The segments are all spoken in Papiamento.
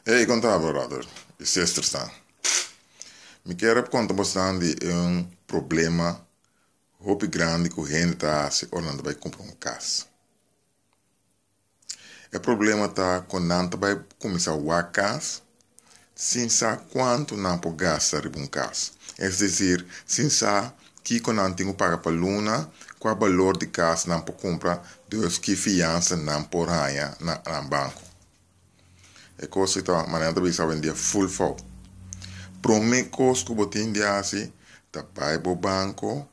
Ey, konta bo Robert, e sester sa. Mi kier a konta bosnan di e un problema hopi grandi ku hende ta hasi ora nan ta bai kumpra un kas. E problema ta ku nan ta bai kuminsá wak kas sin sa kuantu nan por gasta riba un kas, es desir sin sa kiko nan tin ku paga pa luna, kua balor di kas nan por kumpra, despues ki fiansa nan por haña na nan banko. E cos ki ta manera ta bisa hoendia full fout. Prome cos cu bo tin di haci ta bay bo banco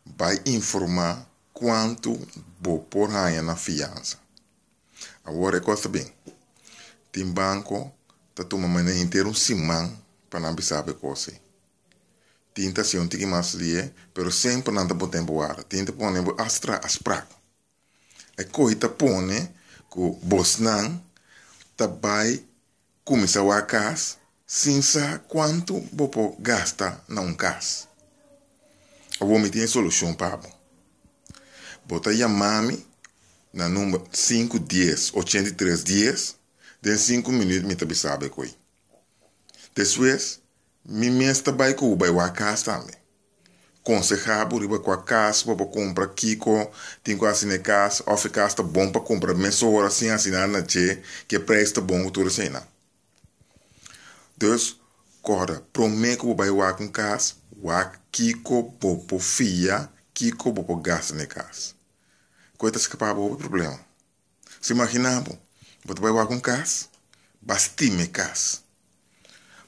bay informa cuanto bo por haya na fiansa. Awor e cos ta bin. Tin banco ta tuma manera henter un siman pa nan bisabo e cos ey. Tin ta haci un tiki mas lie pero semper nan ta bo tempo warda. Tin ta pone bo hasta traha asprak. E koi ta pone ku bosnan ta bai kuminsá wak kas sin sa kuantu bo por gasta na un kas. Awor mi tin e solushon pa bo. Bo ta yama mi na number sinku dies ochenta i tres dies, den sinku minüt mi ta bisa bo e koi. Despues mi mes ta bai ku bo bai wak kas tambe. Konsehá bo riba kua kas bo por kumpra, kiko tin ku hasi na e kas, òf e kas ta bon pa kumpra mesora sin hasi nada na dje, ku e preis ta bon ku tur eseinan. Dus, kòrda, promé ku bo bai wak un kas, wak kiko bo por fia, kiko bo por gasta na e kas. Ku e ta skapa bo hopi problema. Si imaginá bo, bo ta bai wak un kas, bas tima e kas.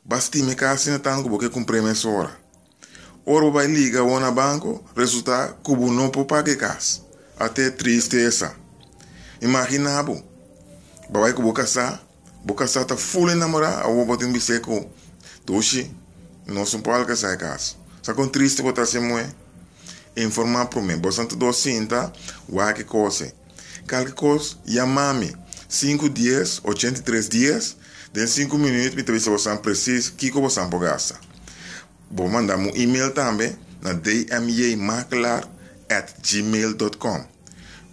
Bas tima e kas asina tantu bo ke kumpr'é mesora. Ora bo bai liga awor na banko, resultá ku bo no por paga e kas. Ate tristesa! Imaginá bo, bo a bai ku bo kasá Bo ka sa ta full enamorá awor bo tin bisé ku Tushi? Nos un por al kasa e kas. Sa kon tristi bo ta hasi muhé? Informá promé. Boso anto dos sinta, waki kose. Kalke kos, yamá mi. Sinku dies, ochenta i tres dies, den sinku minüt mi ta bisa bosan presis kiko bosan por gasta. Bo manda mu email tambe na dmjmakelar at gmail dot com.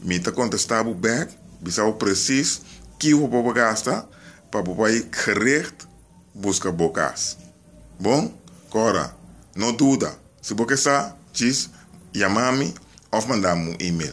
Mi ta contesta bo bek, bisa bo precies kiho bo por gasta pa bo bai gericht busca bo cas. Bon? Cora, no duda, si bo ke sa, djis yama mi of manda mu email.